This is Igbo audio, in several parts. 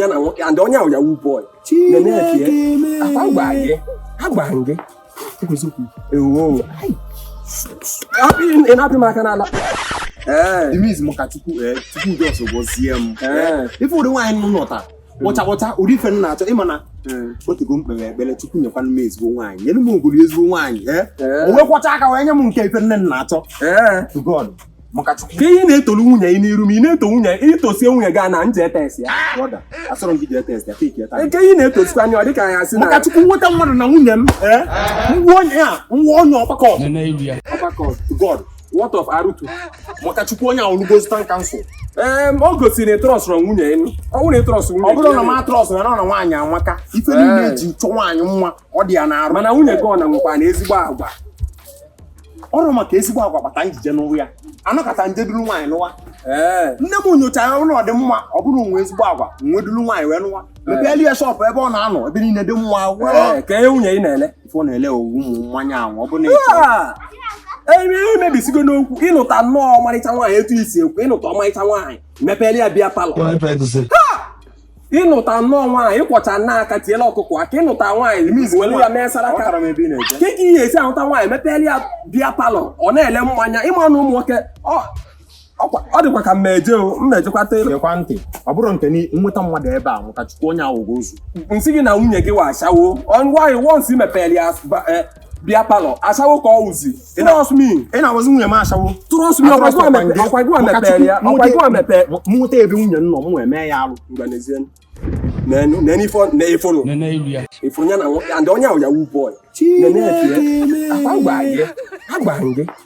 ya na nwoke and onye ahụ Yahoo boy ị na-apị m aka n'ala imizi maka chukwu chukwu just gọzie m ife ụdị nwaanyị m nụta kpọcha kpọcha ụdị ife m na-achọ ị ma na o tego m kpere ekpere chukwu nyekwanụ m ezigbo nwaanyị nyere m ogolo ezigbo nwaanyị o wee kwọcha aka wee nye m nke ife nne m na-achọ to God ka ị na-etolu nwunye ị n'iru m ị na-eto nwunye i tosie nwunye gị na m je etest ya nke ihe na-etosikwa anya ọ dịka anyị asị maka chukwu nweta mmadụ na nwunye m eh? nwa onye a nwa onye ọgbakọ ọgbakọ god what of arutu maka chukwu onye ahụ lugo zụta nka nsụ ọ gosiri na ị trustrọ nwunye ị nụ ọ bụrụ ị trust nwunye ọ bụrụ na m atrust na na nwaanyị amaka ife niile eji chọ nwaanyị nwa ọ dị ya na arụ mana nwunye gị ọ na-enwekwa na ezigbo agwa ọrụ maka ezigbo agwa kpata m ji je nụwa ya anọkọta m je duru nwaanyị nụwa ee nne m nyochara ụlọ ọ dị mma ọ bụrụ o nwe ezigbo agwa m wee duru nwaanyị wee nụwa mepeelu ya shọpụ ebe ọ na-anọ ebe niile dị mma ee wee ka ihe nwunye ị na-ele ife ọ na-ele ọ wụ ụmụ mmanya ahụ ọ bụ na ị chọ Ah! ebe ihe mebisigo n'okwu ị nụta nnọọ ọmarịcha nwaanyị etu i si ekwu ị nụta ọmarịcha nwaanyị mepeele ya beer parlour Why pregnancy? ị nụta nnọọ nwaanyị ị kwọcha nna aka tiela ọkụkọ akị ị nụta nwaanyị miz were ya mee saraka kee ka ị ya-esi anụta nwaanyị mepeela ya beer parlour ọ na-ele mmanya ị ma na ụmụ nwoke ọ dịkwa ka mmeje o mmejekwa tele gekwa ntị ọ bụrụ nke nweta mmadụ ebe a nwụta chukwu onye awụgo ozu nsị gị na nwunye gị wụ ashawo nwaanyị once ị mepere ya e, beer parlour ashawo ka ọ wụzi trust me ị na-agwazi nwunye m ashawo trust me ọkwa gịwa mepere ya ọkwa gịwa mepere mụta ebe nwunye nọ m wee mee ya alụ nene ifo ne ifo no nene ilia ị fụ nya na and onye ahụ Yahoo boy nene afie afagba ye agba nge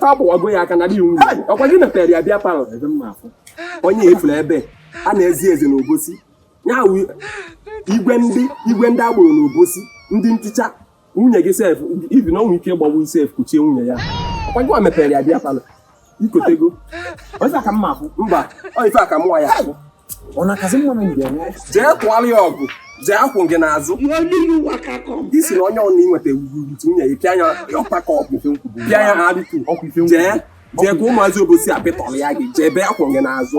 fa gbụwago ya aka na di nwunye ọkwa gị mepere ya beer parlour onye efuru ebe a na-ezi eze na obosi ya igwe ndị igwe ndị agboro na obosi ndị nticha nwunye gị sef ibi na o nwee ike gbagbu i sef kuchie nwunye ya ọkwa gị mepere ya beer parlour i kotego ọsị aka mma afụ mba ọ ife aka mụwa ya afụ ọ na-akazi mma na mgbe nwa jee kwụọla ya ọgụ jee akwụ gị n'azụ ị sị na onye ọna inweta wurutu nwunye ya pịa ya ọkpa ka ọgụ pịa ya ha adịtu jee jee ka ụmụazị obosi apịtọrọ ya gị jebe akwụ gị n'azụ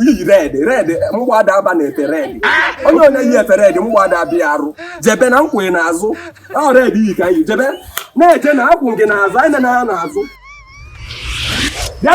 i yi red red agbada aba na efe red onye onye yi efe red agbada bịa arụ jebe na akwụ gị n'azụ ọ red i yi ka i yi jebe na-eje na akwụ gị n'azụ enena n'azụ bịa